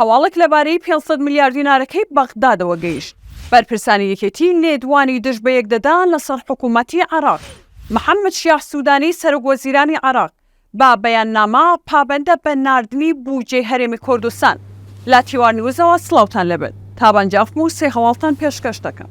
هەواڵێک لەبارەی پێنج سەد ملیار دینارەکەی بەغدادەوە گەیشت، بەرپرسانی یەکێتی لێدوانی دژ بەیەک دەدان لەسەر حکومەتی عێراق، محەممەد شیاع سوودانی سەرۆکوەزیرانی عێراق بە بەیاننامە پابەندە بە ناردنی بووجەی هەرێمی کوردستان. لە تیوار نیوزەوە سڵاوتان لێبێت، تابان جافم و سێ هەواڵتان پێشکەش دەکەم.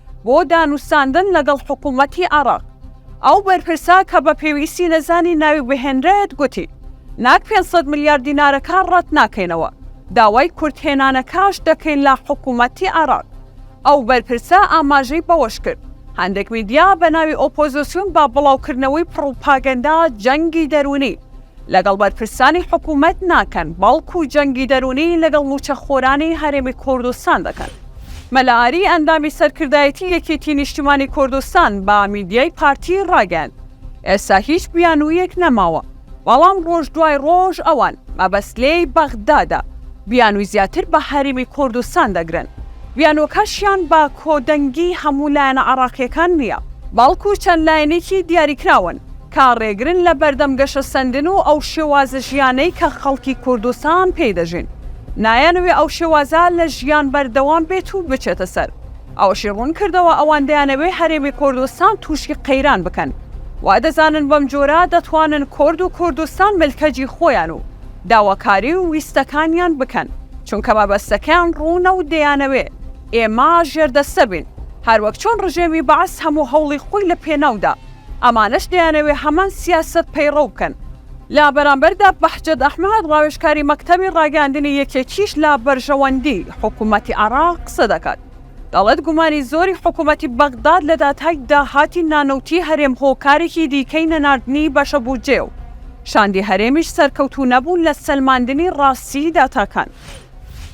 بۆ دانوستاندن لەگەڵ حکوومەتی عێراق. ئەو بەرپرسە کە بە پێویستی نەزانی ناوی بهێنرێت گوتی، ناک پێنج سەد ملیار دینارەکە ڕەت ناکەینەوە، داوای کورتهێنانەکەش دەکەین لە حکوومەتی عێراق. ئەو بەرپرسە ئاماژەی بەوەش کرد، هەندێک میدیا بە ناوی ئۆپۆزیسیون بە بڵاوکردنەوەی پڕوپاگەندە جەنگی دەروونی لەگەڵ بەرپرسانی حکوومەت ناکەن، بەڵکو جەنگی دەروونی لەگەڵ مووچەخۆرانی هەرێمی کوردستان دەکەن. مەلا ئاری ئەندامی سەرکردایەتی یەکێتی نیشتیمانی کوردستان بە میدیای پارتی ڕاگەیاند، ئێستا هیچ بیانوویەک نەماوە، بەڵام ڕۆژ دوای ڕۆژ ئەوان مەبەست لێی بەغدادە، بیانووی زیاتر بە هەرێمی کوردستان دەگرن، بیانووەکەشیان بە کۆدەنگی هەموو لایەنە عێراقییەکان نییە، بەڵکو چەند لایەنێکی دیاریکراون. کە ڕێگرن لە بەردەم گەشەسەندن و ئەو شێوازە ژیانەی کە خەڵکی کوردستان پێی دەژین. نایانەوێ ئەو شێوازە لە ژیان بەردەوام بێت و بچێتە سەر. ئەوەشی ڕوون کردەوە، ئەوان دەیانەوێ هەرێمی کوردستان تووشی قەیران بکەن. وا دەزانن بەم جۆرە دەتوانن کورد و کوردستان ملکەجی خۆیان و داواکاری و ویستەکانیان بکەن، چونکە مەبەستەکەیان ڕوونە و دەیانەوێ ئێمە ژێردەستە بین، هەروەک چۆن ڕژێمی بەعس هەموو هەوڵی خۆی لە پێناودا. ئەمانەش دەیانەوێ هەمان سیاسەت پەیڕەو بکەن. لە بەرامبەردا بەهجەت ئەحمەد ڕاوێژکاری مەکتەبی ڕاگەیاندنی یەکێتیش لە بەرژەوەندی حکوومەتی عێراق قسە دەکات، دەڵێت گومانی زۆری حکوومەتی بەغداد لە داتای داهاتی نانەوتیی هەرێم هۆکارێکی دیکەی نەناردنی بەشە بودجەیە و شاندی هەرێمیش سەرکەوتوو نەبوون لە سەلماندنی ڕاستیی داتاکان.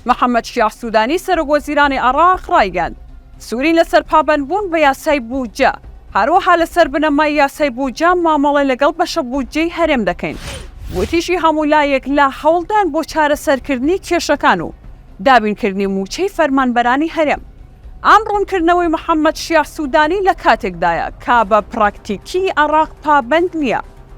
محەممەد شیاع سوودانی سەرۆکوەزیرانی عێراق ڕایگەیاند، سورین لەسەر پابەندبوون بە یاسای بودجە، هەروەها لەسەر بنەمای یاسای بودجە مامەڵە لەگەڵ بەشە بودجەی هەرێم دەکەین. وتیشی هەموو لایەک لە هەوڵدان بۆ چارەسەرکردنی کێشەکان و دابینکردنی مووچەی فەرمانبەرانی هەرێم. ئەم ڕوونکردنەوەی محەممەد شیاع سوودانی لە کاتێکدایە کە بە پراکتیکی عێراق پابەند نییە.